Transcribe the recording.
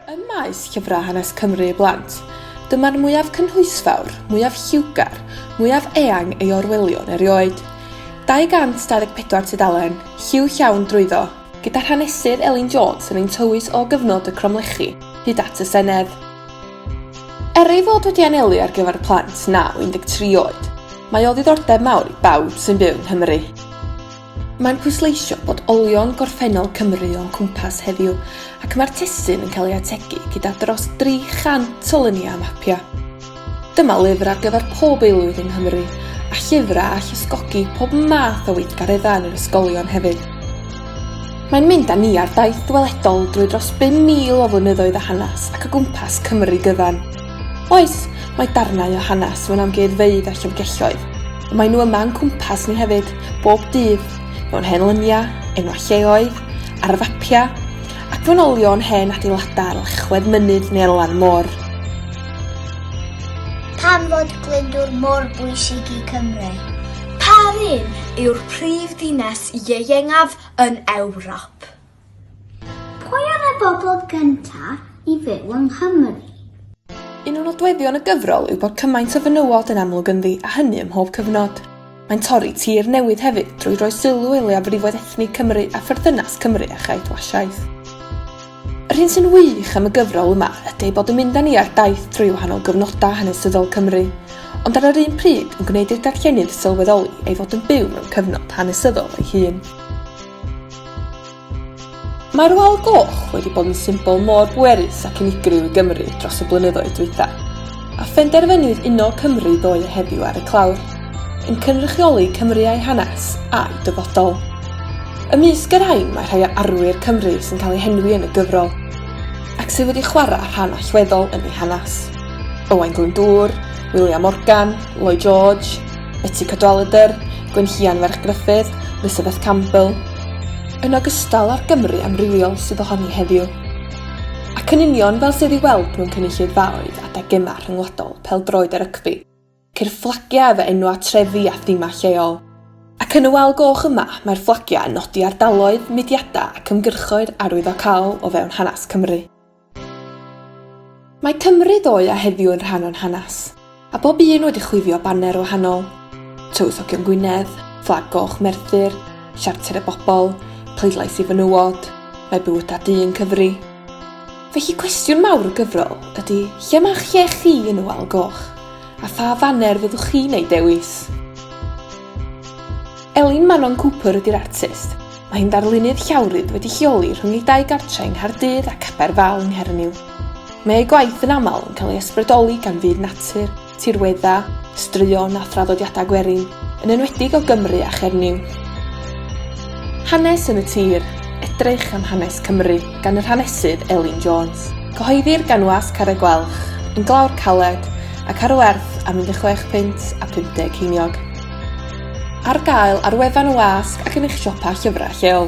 Ym maes llyfrau hanes Cymru i blant, dyma'r mwyaf cynhwysfawr, mwyaf lliwgar, mwyaf eang ei orweliwn erioed. 224 tudalen, lliw llawn drwyddo, gyda Hanesydd Elin Jones yn ein tywys o gyfnod y cromlechi hyd at y Senedd. Er ei fod wedi anelu ar gyfer plant naw 13 oed, mae o ddiddordeb mawr i bawb sy'n byw yng Nghymru. Mae'n pwysleisio bod olion gorffennol Cymru o'n cwmpas heddiw ac mae'r testun yn cael ei ategu gyda dros 300 o luniau a mapiau. Dyma lyfr ar gyfer pob aelwyd yng Nghymru, a llyfrau all ysgogi pob math o weithgareddau yn yr ysgolion hefyd. Mae'n mynd â ni ar daith ddyweledol drwy dros 5,000 o flynyddoedd o hanes ac o gwmpas Cymru gyfan. Oes, mae darnau o hanes mewn amgueddfeydd a llyfrgelloedd, ond maen nhw yma yn cwmpas ni hefyd, bob dydd, mewn hen lyniau, enwau lleoedd, ar y fapiau, ac mewn olion hen adeiladau ar lechwedd mynydd neu ar lan môr. Pam fod Glyndŵr mor bwysig i Cymru? Pa run yw'r prif ddinas ieuengaf yn Ewrop? Pwy oedd y bobl gyntaf i fyw yng Nghymru? Un o nodweddion y gyfrol yw bod cymaint o fenywod yn amlwg ynddi, a hynny ym mhob cyfnod. Mae'n torri tir newydd hefyd drwy roi sylw i leiafrifoedd ethnig Cymru a pherthynas Cymru â chaeth Wasiaeth. Yr hyn sy'n wych am y gyfrol yma ydy ei bod yn mynd â ni ar daith trwy wahanol gyfnodau hanesyddol Cymru, ond ar yr un pryd yn gwneud i'r darllenydd sylweddoli ei fod yn byw mewn cyfnod hanesyddol ei hun. Mae'r Wal Goch wedi bod yn symbol mor bwerus ac unigryw i Gymru dros y blynyddoedd dwytha, a phenderfynwyd uno Cymru ddoe a heddiw ar y clawr, yn cynrychioli Cymru a'i hanes, a'i dyfodol. Ymysg y rhain mae rhai o arwyr Cymru sy'n cael eu henwi yn y gyfrol, ac sydd wedi chwarae rhan allweddol yn ei hanes. Owain Glyndŵr, William Morgan, Lloyd George, Betsi Cadwaladr, Gwenllian ferch Gruffydd, Elizabeth Campbell, yn ogystal â'r Gymru amrywiol sydd ohoni heddiw. Ac yn union fel sydd ei weld mewn cynulleidfaoedd adeg gemau rhyngwladol peldroed a rygbi, ceir fflagiau efo enwau trefi a themau lleol. Ac yn y wal goch yma, mae'r fflagiau yn nodi ardaloedd, mudiadau ac ymgyrchoedd arwyddocaol o fewn hanes Cymru. Mae Cymru ddoe a heddiw yn rhan o'n hanes, a bob un wedi chwifio baner wahanol. Tywysogion Gwynedd, Fflag Goch Merthyr, Siarter y Bobl, Pleidlais i Fenywod, Mae Bywydau Du yn Cyfri. Felly cwestiwn mawr y gyfrol ydy lle mae lle chi yn y wal goch, a pha faner fyddwch chi'n ei dewis? Elin Manon Cooper ydy'r artist, Mae'n ddarlunydd llawrydd wedi lleoli rhwng ei dau gartre yng Nghaerdydd ac Aberfal yng Nghernyw. Mae ei gwaith yn aml yn cael ei ysbrydoli gan fyd natur, tirweddau, straeon a thraddodiadau gwerin, yn enwedig o Gymru a Chernyw. Hanes yn y Tir, Edrych am hanes Cymru gan yr hanesydd Elin Jones. Cyhoeddir gan Was Carreg Gwelch, yn Glawr Caled, ac ar werth am 16 punt a 50 ceiniog. Ar gael ar wefan y wasg ac yn eich siopa llyfrau lleol.